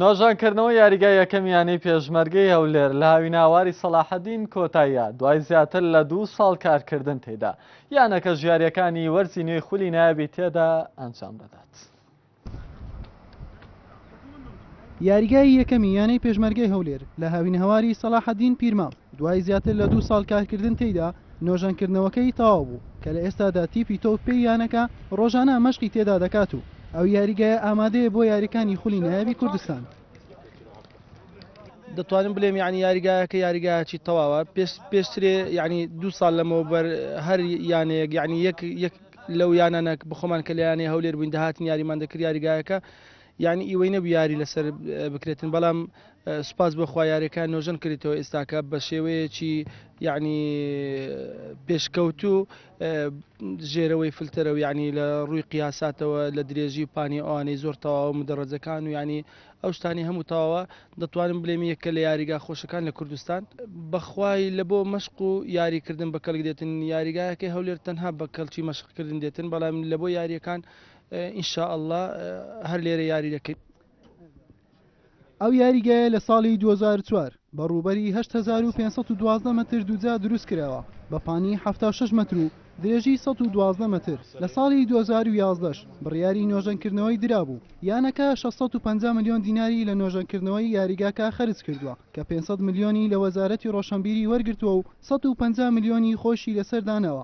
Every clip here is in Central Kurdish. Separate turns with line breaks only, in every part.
نۆژەنکردنەوەی یاریگای یەکەم یانەی پێشمەرگەی هەولێر لە هاویناواری سەلاحەدین کۆتاییە دوای زیاتر لە دوو ساڵ کارکردن تێدا یانەکە ژیاریەکانی وەرزی نوێی خولی نایبی تێدا ئەنجام دەدات.
یاریگای یەکەمی یانەی پێشمەرگەی هەولێر لە هاوینهواری سەلاحەدین پیرماڵ دوای زیاتر لە دوو ساڵ کارکردن تێدا نۆژەنکردنەوەکەی تەواو بوو، کە لە ئێستادا تیپی تۆپ پێی یانەکە رۆژانە مەشقی تێدا دەکات و ئەو یاریگایە ئامادەیە بۆ یاریکانی خولی نایابی کوردستان.
دەتوانم بلێم یانی یاریگایەکە یاریگایەکی تەواوە پێشترێ یانی دوو ساڵ لەمەوە بەر هەر یانەیەک یانی یەک یەک لەو یانانەک بخۆمان کە لە یانەی هەولێر بووین دەهاتن یاریمان دەکرد یاریگایەکە یانی ئیوەی نەبو یاری لەسەر بکرێتن بەڵام سوپاس بۆ خوا یارەکە نۆژەن کردیتەوە ئێستاکە بە شێوەیەکی یعنی پێشکەوتو ژێرەوەی فلتەرە و یعنی لە ڕووی قیاساتەوە لە درێژی و پانی ئەوانەی زۆر تەواو مدەڕەجەکان و ینی ئەو شتانی هەموو تەواوە دەتوانم بلێم یەکە لە یاریگا خۆشەکان لە کوردستان بەخوای لە بۆ مەشق و یاریکردن بە کەلک دێتن یاریگایەکەی هەولێر تەنها بە کەلکی مەشقکردن دێتن بەڵام لە بۆ یاریەکان ان شاء اللە هەر لێرە یاری دەکەین.
ئەو یاریگایە لە ساڵی دوو هەزار و چوار بە ڕووبەری هەشت هەزار و پێنج سەد و دوازدە مەتر دووجا دروست کراوە بە پانی حەفتا و شەش مەتر و درێژی سەد و دوازدە مەتر لە ساڵی دوو هەزار و یازدەش بڕیاری نۆژەنکردنەوەی درابوو یانەکە شەش سەد و پەنجا ملیۆن دیناری لە نۆژەنکردنەوەی یاریگاکە خەرج کردووە کە پێنج سەد ملیۆنی لە وەزارەتی ڕۆشنبیری وەرگرتووە و سەد و پەنجا ملیۆنی خۆیشی لەسەر داناوە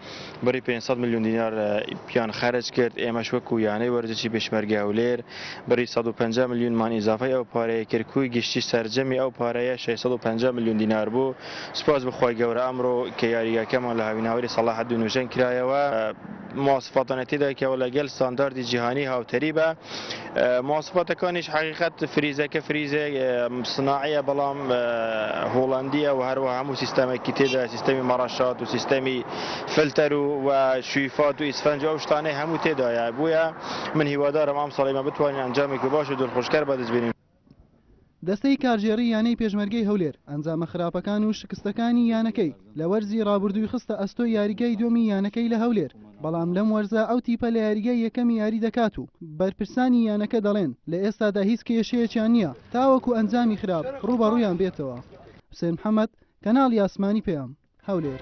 بڕی پێنج سەد ملیۆن دینار پیان خەرج کرد ئێمەش وەکو یانەی وەرزشی پێشمەرگە هەولێر بڕی سەد و پەنجا ملیۆنمان ئیزافەی ئەو پارەیە کرد کوی گشتی سەرجەمی ئەو پارەیە شەش سەد و پەنجا ملیۆن دینار بوو سوپاس بۆ خوای گەورە ئەمڕۆ کە یاریگاکەمان لە هاویناوەری سەڵاحەدین نۆژەن کرایەوە مواصفاتانەی تێدا کە لەگەل ستانداردی جیهانی هاوتەریبە. مواصفاتەکانیش حقیقت فریزەکە فریزێک سناعەیە بەڵام هۆڵندیە و هەروە هەموو سیستەمێکی تێدا سیستەمی مەڕەشات و سیستەمی فلتەر و و شویفات و ئیسفەنج و ئەو شتانەی هەموو تێدایە بووە من هیوادارم ئەم ساڵیمە بتوانین ئەنجامێکی باش و دڵخۆشکەر بەدەستبێنین دەستەی
کارگێڕی یانەی پێشمەرگەی هەولێر ئەنجامە خراپەکان و شکستەکانی یانەکەی لە وەرزی رابوردووی خستە ئەستۆی یاریگای دووەمی یانەکەی لە هەولێر، بەڵام لەم وەرزە ئەو تیپە لە یاریگای یەکەمی یاری دەکات و بەرپرسانی یانەکە دەڵێن لە ئێستادا هیچ کێشەیەکیان نییە تاوەکو ئەنجامی خراپ رووبەڕوویان بێتەوە. حوسێن محەمەد، کەناڵی ئاسمانی پەیام، هەولێر.